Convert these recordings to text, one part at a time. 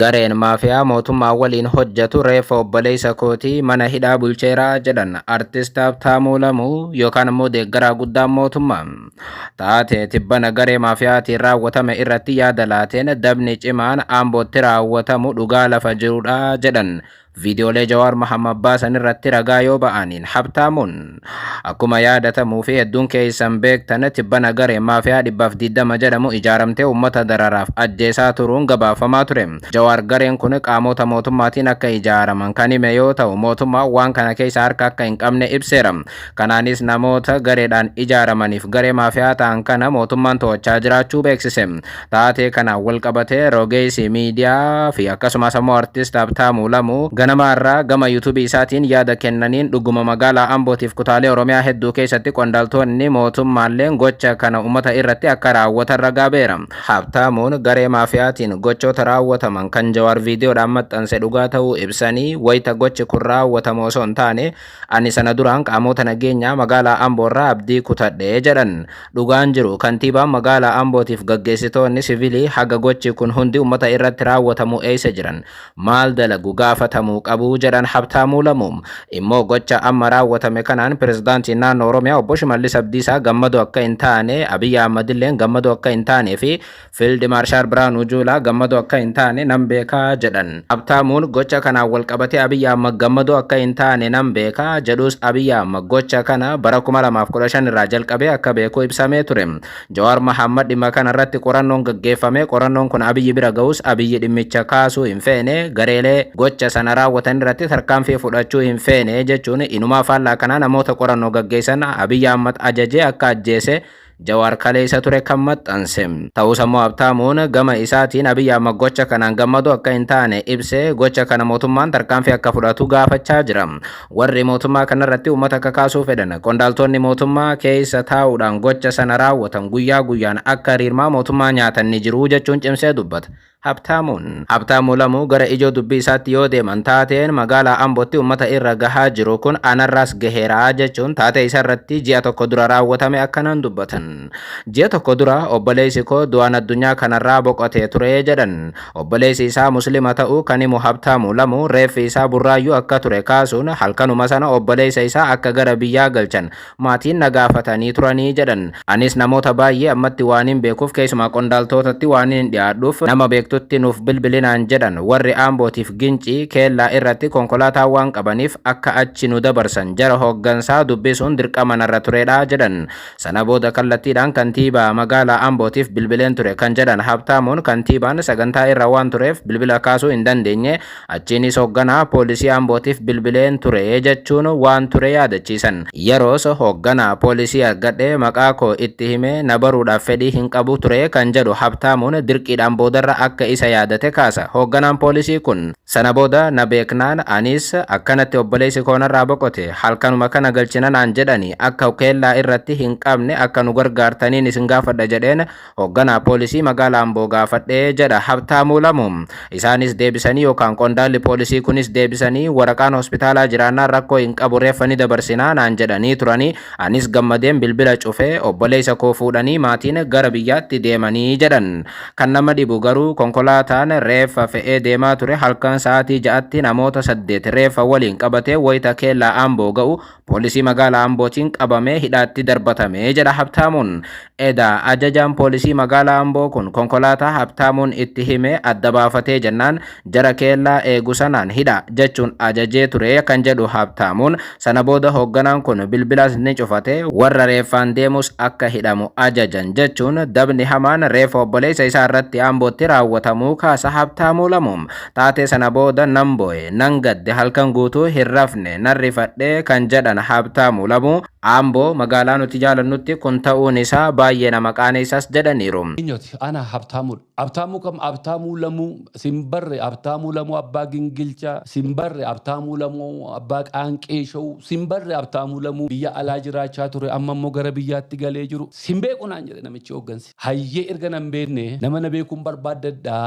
Gareen maafiyaa mootummaa waliin hojjetu reeffa obboleessa kootii mana hidhaa bulcheera jedhan Artist Habtaamuu Lamuu yookaan immoo deeggaraa guddaan mootummaa. Taatee tibbana garee maafiyaatiin raawwatame irratti yaada laateen dabni cimaan Ambootti raawwatamu dhugaa lafa jirudha jedhan Viidiyoolee Jawaar Mahammad baasan irratti ragaa yoo ba'aniin Habtaamuun akkuma yaadatamuu fi hedduun keessan beektan tibbana garee maafiyaa dhibbaaf diddama jedhamu ijaaramtee uummata dararaaf ajjeesaa turuun gabaafamaa ture. Jawaar gareen kun qaamoota mootummaatiin akka ijaaraman kan hime yoo ta'u mootummaan waan kana keessa harka akka hin qabne ibseera. Kanaanis namoota gareedhaan ijaaramaniif garee maafiyaa ta'an kana mootummaan to'achaa jiraachuu beeksise. Taatee kanaan walqabatee rogeessi miidiyaa fi akkasumas ammoo Artist Habtaamuu Lamuu ganama har'aa gama YouTube isaatiin yaada kennaniin dhuguma magaalaa Ambootiif kutaalee Oromiyaa hedduu keessatti qondaaltoonni mootummaalleen gocha kana ummata irratti akka raawwatan ragaa beera. Habtaamuun garee maafiyaatiin gochoota raawwataman kan Jawaar viidiyoodhaan maxxanse dhugaa ta'uu ibsanii wayita gochi kun raawwatamu osoo hin taane Ani sana duraan qaamoota nageenyaa magaalaa Amboo irraa abdii kutadhe, jedhan. Dhugaan jiru kantiibaan magaalaa Ambootiif gaggeessitoonni sivilii haga gochi kun hundi ummata irratti raawwatamu eessa jiran? Maal dalagu? Gaafatamuu qabu, jedhan Habtaamuu Lamuu. Immoo gocha amma raawwatame kanaan Pirezidaantiin Naannoo Oromiyaa Obbo Shimallis Abdiisaa gammadoo akka hin taane, Abiy Ahmadilleen gammadoo akka hin taanee fi Fiild Maarshaal Birhaanuu Juulaa gammadoo akka hin taane nan beeka jedhan. Habtaamuun gocha kanaan walqabatee Abiy Ahmad gammadoo akka hin taane nan beeka jedhus Abiy Ahmad gocha kana bara 2015 irraa jalqabee akka beeku ibsamee ture. Jawaar Mahaammad dhimma kana irratti qorannoon gaggeeffame qorannoon kun Abiy bira gahus Abiy dhimmicha kaasuu hin feene gareelee gocha sana raawwatan irratti tarkaanfii fudhachuu hin feene jechuun inumaa faallaa kanaa namoota qorannoo gaggeessan Abiy Ahmad ajajee akka ajjeese Jawaar kaleessa ture kan maxxanse. Ta'us ammoo Habtaamuun gama isaatiin Abiy Ahmad gocha kanaan gammadu akka hin taane ibsee gocha kana mootummaan tarkaanfii akka fudhatu gaafachaa jira. Warri mootummaa kanarratti uummata kakaasuu fedhan qondaaltonni mootummaa keessa taa'uudhaan gocha sana raawwatan guyyaa guyyaan akka riirmaa mootummaa nyaatan ni jiru jechuun cimsee dubbata. Habtaamuun. Habtaamuu Lamuu gara ijoo dubbii isaatti yoo deeman taateen magaalaa Ambootti ummata irra gahaa jiru kun anarraas gaheera jechuun taatee isarratti ji'a tokko dura raawwatame akkanaan dubbatan. Ji'a tokko dura obboleessi koo du'aan addunyaa kanarraa boqotee ture jedhan. Obboleessi isaa Muslima ta'uu kan himu Habtaamuu Lamuu reeffi isaa Burraayyuu akka ture kaasuun halkanuma sana obboleessa isaa akka gara biyyaa galchan Maatiin na gaafatanii turanii jedhan. Anis namoota baayyee ammatti waanin beekuuf keessumaa qondaaltootatti waanin dhiyaadhuuf nama beektutti nuuf bilbili naan jedhan. Warri Ambootiif Gincii, Keellaa irratti konkolaataa waan qabaniif akka achi nu dabarsan jara hooggansaa dubbisuun dirqama narra turedha jedhan. Sana booda kallattiidhaan kantiibaa magaalaa Ambootiif bilbileen ture kan jedhan Habtaamuun, kantiibaan sagantaa irra waan tureef bilbila kaasuu hin dandeenye. Achiinis hogganaa poolisii Ambootiif bilbileen ture jechuun waan ture yaadachiisan. Yeroos hogganaa poolisii argadhe maqaa koo itti himee na baruudhaaf fedhii hin qabu ture kan jedhu Habtaamuun dirqiidhaan boodarra akka isa yaadate kaasa hogganaan poolisii kun. Sana booda na beeknaan anis akkanatti obboleessi koo narraa boqote halkanuma kana galchina naan jedhani akka keellaa irratti hin qabne akka nu gargaartaniin isin gaafadha jedheen Hoogganaa poolisii magaala Amboo gaafadhe jedha Habtaamuu Lamu. Isaanis deebisanii yookaan qondaalli poolisii kunis deebisanii waraqaan hospitaalaa jiraannaan rakkoo hin qabu reeffa ni dabarsinaa naan jedhanii turanii anis gammadeen bilbila cufe obboleessa koo fuudhanii maatiin gara biyyaatti deemanii jedhan. Kan nama dhibu garuu konkolaataan reeffa fe'ee deemaa ture halkan sa'aatii ja'atti namoota saddeet reeffa waliin qabatee wayita keellaa Amboo ga'u poolisii magaalaa Ambootiin qabamee hidhaatti darbatame jedha Habtaamuun. Edaa ajajaan poolisii magaalaa Amboo kun konkolaataa Habtaamuun itti hime adda baafatee jennaan jara keellaa eegu sanaan hidha jechuun ajajee ture kan jedhu Habtaamuun sana booda hoogganaan kun bilbilas ni cufate warra reeffaan deemus akka hidhamu ajajan jechuun dabni hamaan reeffa obboleessa isaa irratti Ambootti raawwatamuu kaasa Habtaamuu Lamuum. Taatee sana booda nan boo'e, nan gadde, halkan guutuu hin rafne, nan rifadhe kan jedhan Habtaamu Lamuu, Amboo, magaalaa nuti jaalannutti kun ta'uun isaa baay'ee nama qaaneessas jedhaniiru. Eenyuti? Ana, Habtaamuudha. Habtaamuu kam? Habtaamuu Lamuu, sin barre, Habtaamuu Lamuu abbaa Gingilchaa, sin barre, Habtaamuu Lamuu abbaa Qaanqee Show, sin barre, Habtaamuu Lamuu biyya alaa jiraachaa ture amma immoo gara biyyaatti galee jiru, sin beeku naan jedhe namichi hooggansi. Hayyee erga nan beekne nama na beekuun barbaaddadha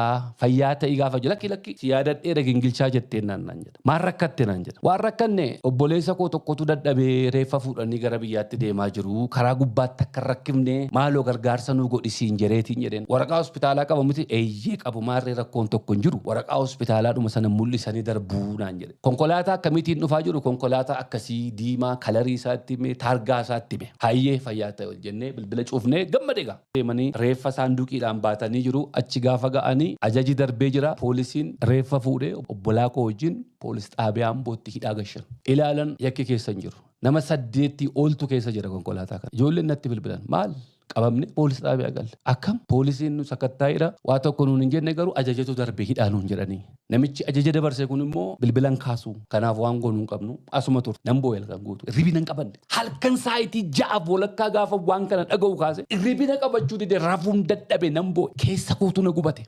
fayyaa ta'i gaafa jedhu lakki lakki si yaadadheera gingilchaa jetteen naan naan jedha. Maal rakkatte naan jedha. Waan rakkanne obboleessa koo tokkotu dadhabee reeffa fuudhanii gara biyyaatti deemaa jiru karaa gubbaatti akka hin rakkifne maaloo gargaarsa nuu godhi siin jedheetiin jedheen. Waraqaa hospitaalaa qaba miti? Eeyyee qabu maarree rakkoon tokko hin jiru waraqaa hospitaalaadhuma sana mul'isanii darbu naan jedhe. Konkolaataa akkamiitiin dhufaa jiru konkolaataa akkasii diimaa kalarii isaa itti hime taargaa isaa itti hime. Hayyee fayyaa ta'i ol jennee bilbila cufnee gammade egaa. deemanii reeffa saanduqiidhaan baatanii jiru. Achi gaafa ga'anii ajaji darbee jira. Poolisiin reeffa fuudhee obbolaa koo wajjin poolis xaabiyaa Ambootti hidhaa gashan. Ilaalan yakki keessa hin jiru. Nama saddeettii oltu keessa jira konkolaataa kana. Ijoolleen natti bilbilan maal? Qabamne poolis xaabiyaa galle. Akkam? Poolisiin nu sakattaa'eera. Waa tokko nuun hin jenne garuu ajajatu darbe hidhaa nuun jedhanii. Namichi ajaja dabarse kun immoo bilbila hin kaasu. Kanaaf waan goonu hin qabnu. Asuma turte. Nan boo'e halkan guutuu. Hirribina hin qabanne. Halkan saayitii ja'aaf walakkaa gaafan waan kana dhaga'u kaase hirribina qabachuu dide rafuun dadhabe nan boo'e. Keessa kootu na gubate.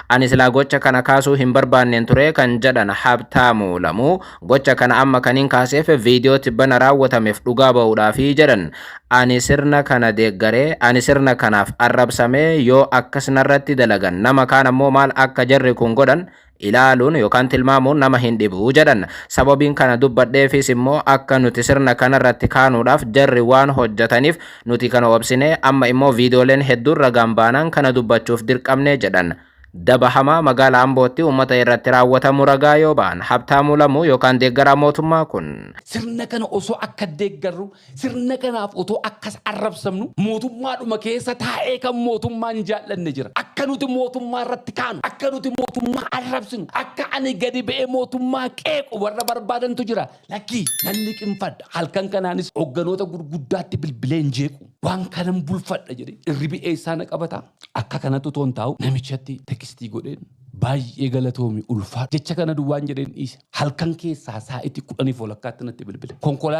Ani silaa gocha kana kaasuu hin barbaanneen ture kan jedhan Habtaamu Lamuu, Gocha kana amma kanin kaaseef viidiyoo tibbana raawwatameef dhugaa ba'uudhaafi jedhan. Ani sirna kana deeggaree, ani sirna kanaaf arrabsamee yoo akkas narratti dalagan nama kaan ammoo maal akka jarri kun godhan ilaaluun yookaan tilmaamuun nama hin dhibu jedhan. Sababiin kana dubbadheefiis immoo akka nuti sirna kanarratti kaanuudhaaf jarri waan hojjataniif nuti kana obsinee amma immoo viidiyooleen hedduun ragaan baanaan kana dubbachuuf dirqamne jedhan. Daba hamaa magaala Ambootti uummata irratti raawwatamu ragaa yoo ba'an Habtaamuu Lamuu yookaan deeggaraa mootummaa kun. Sirna kana osoo akka deeggarru, sirna kanaaf otoo akkas arrabsamnu mootummaadhuma keessa taa'ee kan mootummaa hin jaallanne jira. Akka nuti mootummaa irratti kaanu, akka nuti mootummaa arrabsinu, akka ani gadi ba'ee mootummaa qeequ warra barbaadantu jira. Lakki! Nan liqimfadha. Halkan kanaanis hogganoota gurguddaatti bilbileen jeequ. Waan kanan bulfadha jedhee irribi eessaa na qabata? Akka kanatti utuu hin taa'u namichatti tekistii godheen baay'ee galatoomi ulfaadhu jecha kana duwwaan jedheen dhiise. Halkan keessaa saa'itii kudhaniif walakkaatti natti bilbile. Konkolaataa